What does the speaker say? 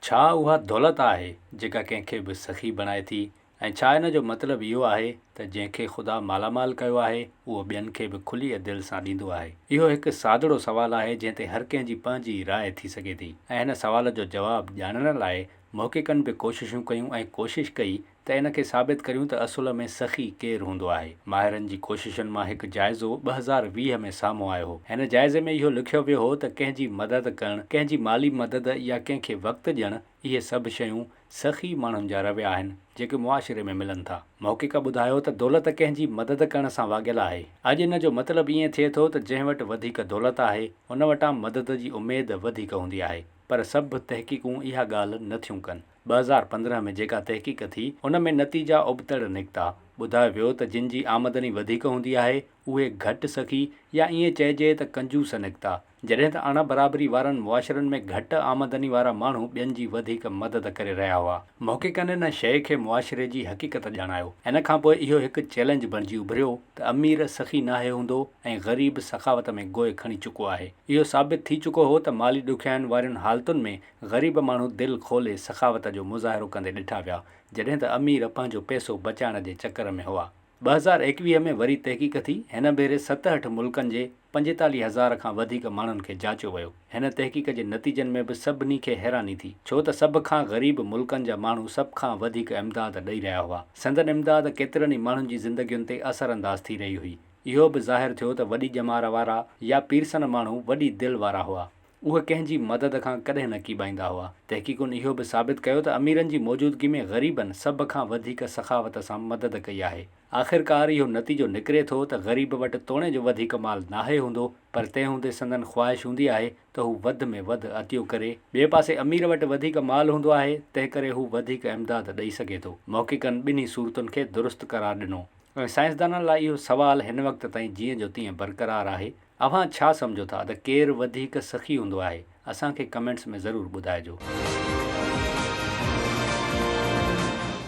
ڇا اها دولت آهي جيڪا ڪنهن کي به سخي بڻائي ٿي ۽ ڇا ان جو مطلب اهو آهي ته جنهن کي خدا مالامال ڪيو آهي اهو ٻين کي به کليء دل سان ڏيندو آهي؟ اهو هڪ سادڙو سوال آهي جنهن تي هر ڪنهن جي پنهنجي راء ٿي سگهي ٿي ۽ هن سوال جو جواب ڄاڻڻ لاء محققن به ڪوششون ڪيون ۽ ڪوشش ڪئي ته ان کي ثابت ڪريون ته اصل ۾ سخي ڪير هوندو آهي. ماهرن جي ڪوششن مان هڪ جائزو ٻه هزار ويهه ۾ سامهون آيو هو. هن جائزي ۾ اهو لکيو ويو هو ته ڪنهن جي مدد ڪرڻ، ڪنهن جي مالي مدد يا ڪنهن کي وقت ڏيڻ، اهي سڀ شيون سخي ماڻهن جا رويا آهن، جيڪي معاشري ۾ ملن ٿا. محقق ٻڌايو ته دولت ڪنهن جي مدد ڪرڻ سان واڳيل آهي. اڄ ان جو مطلب ائين ٿئي ٿو ته جنهن وٽ وڌيڪ دولت آهي، ان وٽان مدد جي اميد وڌيڪ هوندي آهي. پر سڀ تحقيقون اها ڳالهه نٿيون ڪن. ٻه هزار پندرهن ۾ جيڪا تحقيق ٿي، ان ۾ نتيجا ابتڙ نڪتا. ٻڌايو ويو ته جن جي آمدني وڌيڪ هوندي آهي، اهي گهٽ سخي يا ائين چئجي ته ڪنجوس نڪتا، جڏهن ته اڻ برابري وارن معاشرن ۾ گهٽ آمدني وارا ماڻهو ٻين جي وڌيڪ مدد ڪري رهيا هئا. محققن ان شيء کي معاشري جي حقيقت ڄاڻايو. ان کان پوء اهو هڪ چئلينج بڻجي اڀريو ته امير سخي ناهي هوندو ۽ غريب سخاوت ۾ گوء کڻي چڪو آهي. اهو ثابت ٿي چڪو هو ته مالي ڏکيائين وارين حالتن ۾ غريب ماڻهو دل کولي سخاوت جو مظاهرو ڪندي ڏٺا ويا، جڏهن ته امير پنهنجو پئسو بچائڻ جي چڪر ۾ هئا. ٻه هزار ايڪويهه ۾ وري تحقيق ٿي، هن ڀيري ست هٺ ملڪن جي پنجيتاليهه هزار کان وڌيڪ ماڻهن کي جاچيو ويو. هن تحقيق جي نتيجن ۾ به سڀني کي حيراني ٿي، ڇو ته سڀ کان غريب ملڪن جا ماڻهو سڀ کان وڌيڪ امداد ڏئي رهيا هئا. سندن امداد ڪيترن ئي ماڻهن جي زندگين تي اثر انداز ٿي رهي هئي. اهو به ظاهر ٿيو ته وڏي ڄمار وارا يا پيرسن ماڻهو وڏي دل وارا هئا. اهي ڪنهن جي مدد کان ڪڏهن نه ڪيٻائيندا هئا. تحقيقن اهو به ثابت ڪيو ته اميرن جي موجودگي ۾ غريبن سڀ کان وڌيڪ سخاوت سان مدد ڪئي آهي. آخرڪار اهو نتيجو نڪري ٿو ته غريب وٽ توڻي جو وڌيڪ مال ناهي هوندو پر تنهن هوندي سندن خواهش هوندي آهي ته هو وڌ ۾ وڌ عطيو ڪري. ٻئي پاسي امير وٽ وڌيڪ مال هوندو آهي تنهنڪري هو وڌيڪ امداد ڏئي سگهي ٿو. محققن ٻنهي صورتن کي درست قرار ڏنو ۽ سائنسدانن لاء اهو سوال هن وقت تائين جيئن جو تيئن برقرار آهي اوهان ڇا سمجهو ٿا ته ڪير وڌيڪ سخي هوندو آهي اسان کي ڪمينٽس ۾ ضرور ٻڌائجو.